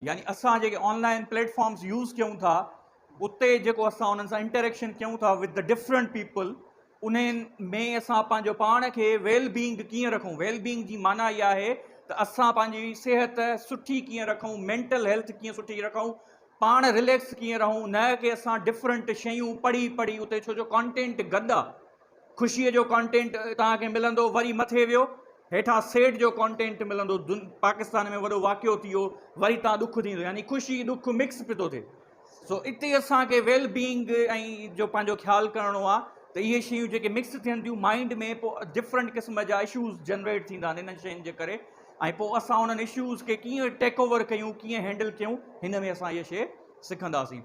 يعني اسان جيڪي online platforms use ڪيون ٿا اتي جيڪو اسان انهن سان انٽريڪشن ڪيون ٿا وٿ دي ڊفرنٽ پيپل انهن ۾ اسان پنهنجو پاڻ کي ويل بينگ ڪيئن رکون ويل بينگ جي معنيٰ اها آهي ته اسان پنهنجي صحت سٺي ڪيئن رکون مينٽل هيلٿ ڪيئن سٺي رکون پاڻ رليڪس ڪيئن رهون نه ڪي اسان ڊفرنٽ شيون پڙهي پڙهي اتي ڇو جو ڪانٽينٽ گڏ آهي خوشيء جو ڪانٽينٽ توهان کي ملندو وري مٿي ويو هيٺان سيڊ جو ڪانٽينٽ ملندو پاڪستان ۾ وڏو واقعو ٿي ويو وري تان ڏک ٿيندو يعني خوشي ڏک مڪس پي ٿو ٿئي سو اتي اسان کي ويل بينگ ۽ جو پنهنجو خيال ڪرڻو آ ته اهي شيون جيڪي مڪس ٿين ٿيون مائنڊ ۾ پو ڊفرنٽ قسم جا اشوز جنريٽ ٿيندا آهن انهن شين جي ڪري ۽ پو اسان انهن اشوز کي ڪيئن ٽيڪ اوور ڪيون ڪيئن هينڊل ڪيون هن ۾ اسان اهي شي سکنداسين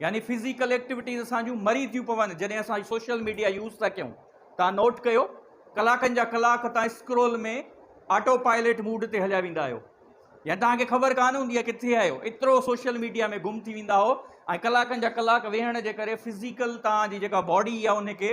يعني فزيڪل ايڪٽيوٽيز اسان جون مري ٿيون پون جڏهن اسان سوشل ميڊيا يوز ٿا ڪيون تان نوٽ ڪيو ڪلاڪن جا ڪلاڪ تان اسڪرول ۾ آٽو پائليٽ موڊ تي هليا ويندا آهيو يعني تان کي خبر ڪانه هوندي آهي ڪٿي آهيو ايترو سوشل ميڊيا ۾ گم ٿي ويندا هو ۽ ڪلاڪن جا ڪلاڪ ويهڻ جي ڪري فزيڪل تان جي جيڪا باڊي آهي ان کي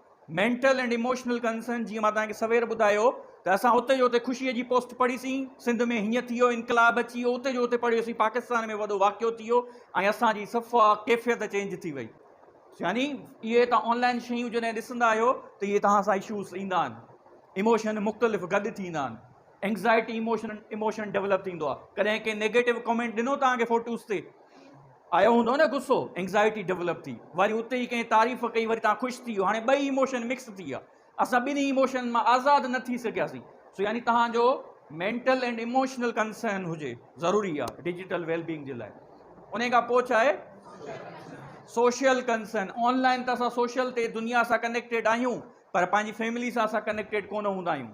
مينٽل اينڊ ايموشنل ڪنسرن جيئن مان توهان کي سوير ٻڌايو ته اسان اتي جو اتي خوشي جي پوسٽ پڙهي سين سنڌ ۾ هيئن ٿي ويو انقلاب اچي ويو اتي جو اتي پڙهيو سين پاڪستان ۾ وڏو واقعو ٿي ويو ۽ اسان جي صفا ڪيفيت چينج ٿي وئي يعني اهي تان آن لائن شيون جڏهن ڏسندا آهيو ته اهي توهان سان اشوز ايندا آهن ايموشن مختلف گڏ ٿيندا آهن اينگزائٽي ايموشن ايموشن ڊيولپ ٿيندو آ ڪڏهن ڪنهن نيگيٽو ڪمينٽ ڏنو توهان کي فوٽوز تي آيو هوندو نه غصو اينگزائٽي ڊيولپ ٿي وري اتي ئي ڪنهن تعريف ڪئي وري تان خوش ٿي ويو هاڻي ٻئي ايموشن مڪس ٿي ويا اسان ٻنهي ايموشن مان آزاد نه ٿي سگهياسين سو يعني توهان جو مينٽل اينڊ ايموشنل ڪنسرن هجي ضروري آ ڊيجيٽل ويل بينگ جي لاء ان کان پوء ڇا آهي سوشل ڪنسرن آن لائن ته اسان سوشل تي دنيا سان ڪنيڪٽيڊ آهيون پر پنهنجي فيملي سان اسان ڪنيڪٽيڊ ڪونه هوندا آهيون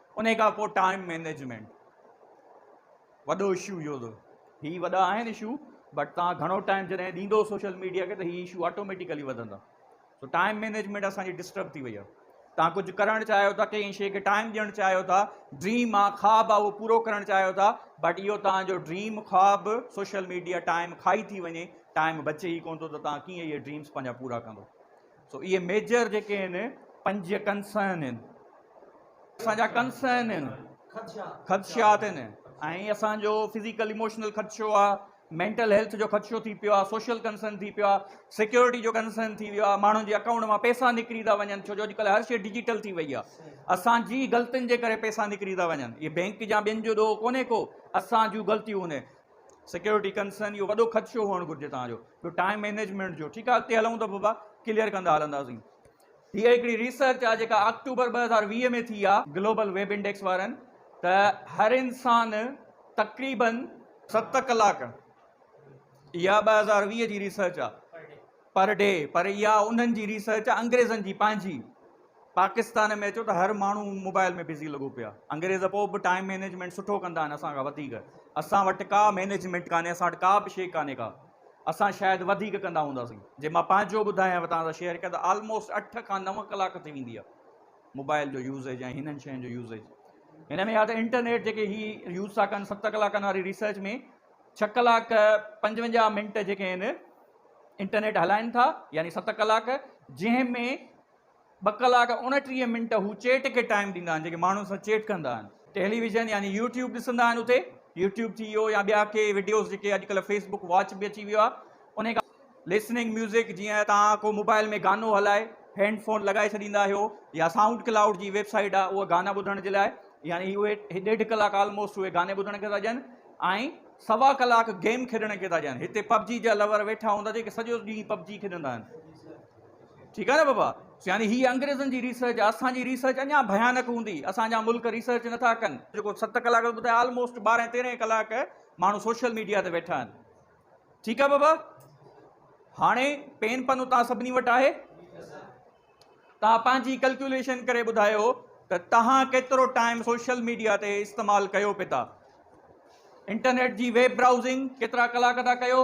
انهي کان پوء ٽائيم مينيجمينٽ وڏو اشو اهو ٿو هي وڏا آهن اشو بٽ توهان گهڻو ٽائيم جڏهن ڏيندو سوشل ميڊيا کي ته هي اشو آٽوميٽيڪلي وڌندا سو ٽائيم مينيجمينٽ اسان جي ڊسٽرب ٿي وئي آهي توهان ڪجهه ڪرڻ چاهيو ٿا ڪنهن شيء کي ٽائيم ڏيڻ چاهيو ٿا ڊريم آ خواب آ اهو پورو ڪرڻ چاهيو ٿا بٽ اهو توهان جو ڊريم خواب سوشل ميڊيا ٽائيم کائي ٿي وڃي ٽائيم بچي ئي ڪونه ٿو ته توهان ڪيئن اهي ڊريمس پنهنجا پورا ڪندو سو اهي ميجر جيڪي آهن پنج ڪنسائن آهن اسان جا ڪنسائن آهن خدشات آهن ۽ اسان جو فزيڪل اموشنل خدشو آ مينٽل هيلٿ جو خدشو ٿي پيو آ سوشل ڪنسائن ٿي پيو آ سيڪيورٽي جو ڪنسائن ٿي ويو آ ماڻهن جي اڪائونٽ مان پيسا نڪري ٿا وڃن ڇو جو اڄڪلهه هر شيء ڊيجيٽل ٿي وئي آ اسان جي غلطين جي ڪري پيسا نڪري ٿا وڃن اهي بينڪ جا ٻين جو ڏوهه ڪونهي ڪو اسان جون غلطيون آهن سيڪيورٽي ڪنسرن اهو وڏو خدشو هئڻ گهرجي توهان جو ٻيو ٽائيم مينيجمينٽ جو ٺيڪ آهي اڳتي هلون ته بابا ڪليئر ڪندا هلنداسين هي هڪڙي ريسرچ آهي جيڪا آڪٽوبر ٻه هزار ويهه ۾ ٿي آهي گلوبل ويب انڊيڪس وارن ته هر انسان تقريبن ست ڪلاڪ اها ٻه هزار ويهه جي ريسرچ آهي پر ڊي پر اها انهن جي ريسرچ آ انگريزن جي پنهنجي پاڪستان ۾ اچو ته هر ماڻهو موبائل ۾ بزي لڳو پيو آ انگريز پو به ٽائيم مينيجمينٽ سٺو ڪندا آهن اسان کان وڌيڪ اسان وٽ ڪا مينيجمينٽ ڪانهي اسان وٽ ڪا به شي ڪانهي ڪا اسان شايد وڌيڪ ڪندا هونداسين جي مان پنهنجو ٻڌايانو توهان سان شيئر ڪيان ته آلموسٽ اٺ کان نو ڪلاڪ ٿي ويندي آ موبائل جو يوزيج ۽ هنن شين جو يوزيج هن ۾ يا ته انٽرنيٽ جيڪي هي يوز ٿا ڪن ست ڪلاڪن واري ريسرچ ۾ ڇهه ڪلاڪ پنجونجاهه منٽ جيڪي آهن انٽرنيٽ هلائين ٿا يعني ست ڪلاڪ جنهن ۾ ٻه ڪلاڪ اڻٽيهه منٽ هو چيٽ کي ٽائيم ڏيندا آهن جيڪي ماڻهن سان چيٽ ڪندا آهن ٽيلي ويزن يعني يوٽيوب ڏسندا آهن اتي يوٽيوب ٿي ويو يا ٻيا ڪي وڊيوز جيڪي اڄڪلهه فيس بڪ واچ به اچي ويو آهي ان کان لسننگ ميوزڪ جيئن توهان ڪو موبائل ۾ گانو هلائي هينڊ فون لڳائي ڇڏيندا آهيو يا سائونڊ ڪلائوڊ جي ويب سائيٽ آهي اها گانا ٻڌڻ جي لاء يعني اهي ڏيڍ ڪلاڪ آلموسٽ اهي گاني ٻڌڻ کي ٿا ڏين ۽ سوا ڪلاڪ گيم کيڏڻ کي ٿا چون هتي پبجي جا لور ويٺا هوندا جيڪي سڄو ڏينهن پبجي کيڏندا آهن ٺيڪ آهي نه بابا يعني هي انگريزن جي ريسرچ اسان جي ريسرچ اڃا ڀيانڪ هوندي اسان جا ملڪ ريسرچ نٿا ڪن جيڪو ست ڪلاڪ ٻڌايا آلموسٽ ٻارهن تيرهن ڪلاڪ ماڻهو سوشل ميڊيا تي ويٺا آهن ٺيڪ آهي بابا هاڻي پين پن اتان سڀني وٽ آهي توهان پنهنجي ڪلڪيوليشن ڪري ٻڌايو ته توهان ڪيترو ٽائيم سوشل ميڊيا تي استعمال ڪيو پي ٿا انٽرنيٽ جي ويب برائوزنگ ڪيترا ڪلاڪ ٿا ڪيو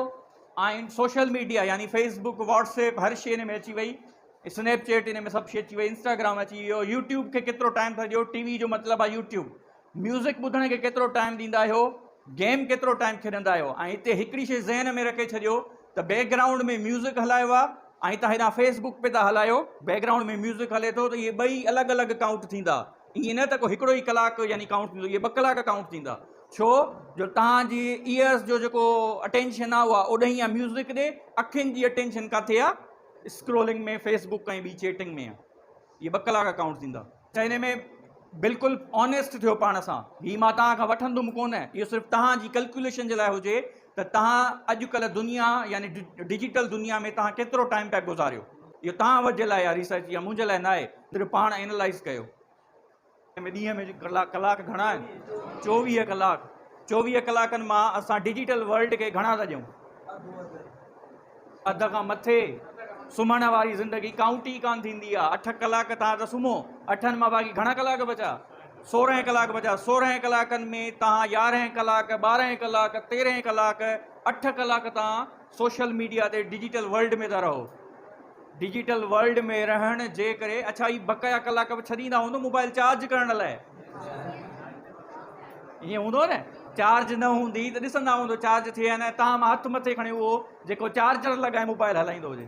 ۽ سوشل ميڊيا يعني فيس بڪ واٽس ايپ هر شي ان ۾ اچي وئي اسنيپ چيٽ ان ۾ سڀ شي اچي وئي انسٽاگرام اچي ويو يوٽيوب کي ڪيترو ٽائيم ٿا ڏيو ٽي وي جو مطلب آهي يوٽيوب ميوزڪ ٻڌڻ کي ڪيترو ٽائيم ڏيندا آهيو، گيم ڪيترو ٽائيم کيڏندا آهيو ۽ هتي هڪڙي شيء ذهن ۾ رکي ڇڏيو ته بيڪ گرائونڊ ۾ ميوزڪ هلايو آهي ۽ تان هيڏانهن فيس بڪ پي ٿا هلايو بيڪ گرائونڊ ۾ ميوزڪ هلي ٿو ته اهي ٻئي الڳ الڳ ڪائونٽ ٿيندا ائين نه ته ڪو هڪڙو ئي ڪلاڪ يعني ڪائونٽ ٿيندو اهي ٻه ڪلاڪ ڪائونٽ ٿيندا ڇو جو تان جي ايئرس جو جيڪو اٽينشن آهي اها اوڏهين آهي ميوزڪ ڏي اکين جي اٽينشن ڪاٿي آهي اسڪرولنگ ۾ فيس بڪ ۽ ٻي چيٽنگ ۾ اهي ٻه ڪلاڪ ڪائونٽ ٿيندا ته ان ۾ بلڪل آنيسٽ ٿيو پاڻ سان هي مان توهان کان وٺندم ڪونه اهو صرف توهان جي ڪلڪيوليشن جي لاء هجي ته توهان اڄ ڪلهه دنيا يعني ڊجيٽل دنيا ۾ توهان ڪيترو ٽائيم پيا گذاريو اهو توهان وٽ جي لاء آهي ريسرچ يا منهنجي لاء ناهي صرف پاڻ اينالائز ڪيو. ۾ ڏينهن ۾ ڪلاڪ گهڻا آهن؟ چوويهه ڪلاڪ، چوويهه ڪلاڪن مان اسان ڊجيٽل ورلڊ کي گهڻا ٿا ڏيون؟ اڌ کان مٿي، سمهڻ واري زندگي ڪائونٽ ئي ڪانه ٿيندي آهي، اٺ ڪلاڪ توهان ته سمهو، اٺن مان باقي گهڻا ڪلاڪ بچا؟ سورهن ڪلاڪ بچا، سورهن ڪلاڪن ۾ توهان يارهن ڪلاڪ، ٻارهن ڪلاڪ، تيرهن ڪلاڪ، اٺ ڪلاڪ توهان سوشل ميڊيا تي ڊجيٽل ورلڊ ۾ ٿا رهو ڊجيٽل ورلڊ ۾ رهڻ جي ڪري اڇا هي بقايا ڪلاڪ به ڇڏيندا هوندو موبائل چارج ڪرڻ لاء ائين هوندو نه چارج نه هوندي ته ڏسندا هوندو چارج ٿئي نه تاهم هٿ مٿي کڻي اهو جيڪو چارجر لڳائي موبائل هلائيندو هجي